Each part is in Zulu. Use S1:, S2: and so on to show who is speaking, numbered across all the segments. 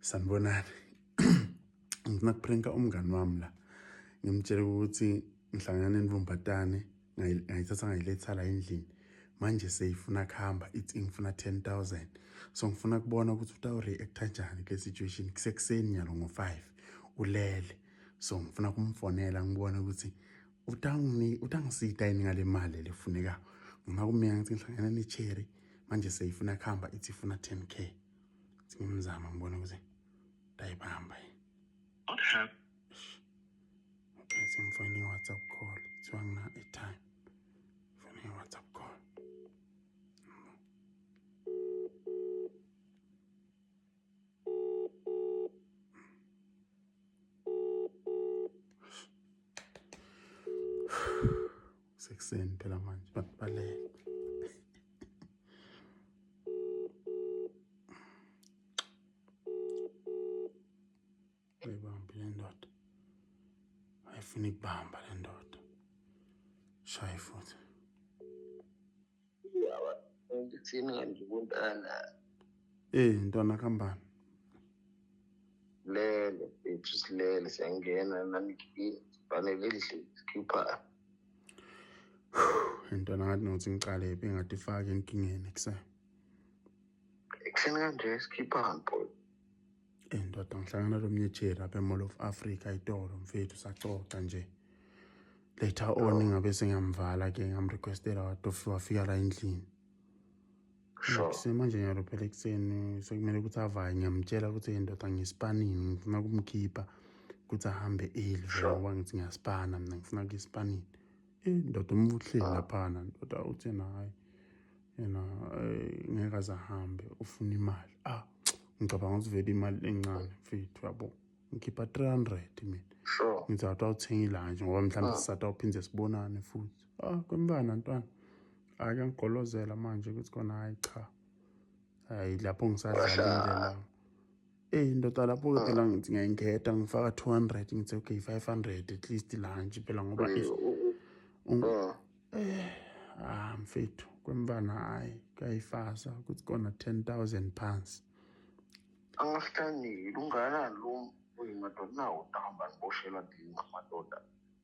S1: sanibonani ngifuna kupranka umngani wami la ngimtshele ukuthi ngihlangana nenvumbatane ngayithatha ngayiletha la endlini manje seyifuna kuhamba ithi ngifuna 10000 so ngifuna kubona ukuthi utawureacta njani kule situation kusekuseni nyalo ngo-5 ulele so ngifuna kumfonela ngibone ukuthi utangini utangisita yini ngale mali lefuneka ngima kumina ngithi ngihlangana necherry manje seyifuna kuhamba ithi ifuna 10k ngimzama ngibona ukuthi ndayibamba what
S2: happened
S1: okay simfonini whatsapp call kuthiwa ngina airtime fonini whatsapp call sekuseni phela manje abantu balele Ayibambi le ndoda. Ayifuna ikubamba le ndoda. Shaye futhi. Yawa, ngithini
S2: kanti kuntana? Eh,
S1: ntwana kambani.
S2: Lele, bethu silele siyangena nami ngifanele endlini sikhipha.
S1: Ntwana ngathi nothi ngiqale phi ngathi ifake enkingeni kusasa.
S2: Ekuseni kanje sikhipha mpo. Eh ndoda
S1: ngihlangana lo mnyejeri apha eMall of Africa itolo mfethu saxoxa nje. Later on ngabe sengiyamvala ke ngamrequestela wadofi wafika la endlini.
S2: Sure. Semanje nyalo
S1: phela ekuseni sekumele ukuthi avaye ngiyamtshela ukuthi hey ndoda ngispanini ngifuna kumkhipha ukuthi ahambe early Sure. ngoba ngithi ngiyaspana mina ngifuna kuye espanini. Eh ndoda umvuhlile laphana ndoda uthena hayi. yena eh, ngeke aze ahambe ufuna imali ah ngicabanga ukuthi vele imali encane mfethu yabo ngikhipha 300 mina sure ngithi athi
S2: awuthenga
S1: ilanje ngoba mhlawumbe ah. sisathi awuphinde sibonane futhi ah kwembana ntwana ake ngigolozela manje ukuthi kona hayi cha hayi lapho ngisadlala indlela eyi ndoda lapho-ke ah. phela ngithi ngiyayingeda ngifaka two hundred ngithi okay five hundred at least lunch phela ngoba ah. eh, ah mfethu kwemfana hhayi kuyayifasa kuthi kona ten thousand pounds amahlangile
S2: unganani lo madoda nawo dahamba niboshela ndini ngamadoda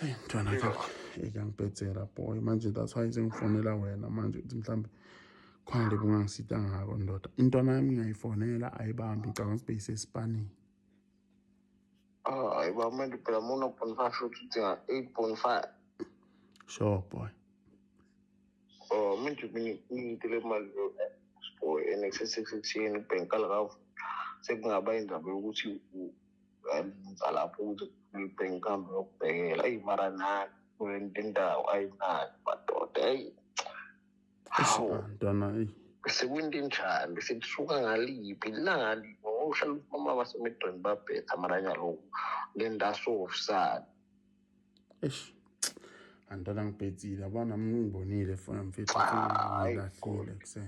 S1: Hey mntwana ekangibhedzela boy manje that's why sengifonela wena manje ukuthi mhlawumbe khona lebi ungangisita ngako ndoda intwana yami ngiyayifonela ayibambi ngicabanga ukuthi beyisesipanini hayi ah,
S2: ba manje phela muna point five shuthi udinga eight point five
S1: sure boy oh
S2: manje ngiyitele imali boy nxsix sixteen bhenkala kavu sekungaba indaba yokuthi ngizalapho ukuthi ngibheke kambe yokubhekela eyi mara nani kulento indawo ayinani madoda eyi hawu
S1: ntwana eyi sekwinto
S2: enjani sekusuka ngaliphi lali ngohlala umama basemedweni babhetha mara nyaloku le ndaso ofisani eish
S1: andala ngibhedzile abana ngibonile fona mfethu ngilahlile kuse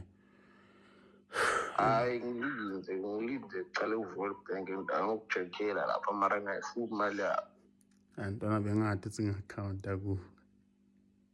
S1: hayi
S2: ngilinde ngilinde qale uVolt Bank ngiyokujekela lapha mara ngayifuna imali yakho antwana
S1: bengathi singakhawunta ku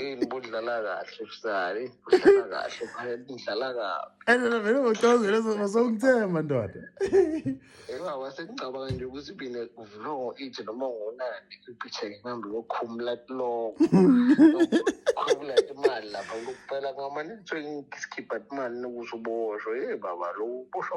S1: yini
S2: budlala kahle kusali budlala kahle phela budlala kabi and phela vele ngocazela
S1: songithemba ndoda engawa sengicabanga
S2: nje ukuthi bine kuvulwa ngo-eight noma ngonani iphitheke ngihambe yokhumula kuloko khumula imali lapha lokuphela ngamane ngithiwe ngikhipha imali nokuthi uboshwe ye baba lo uboshwa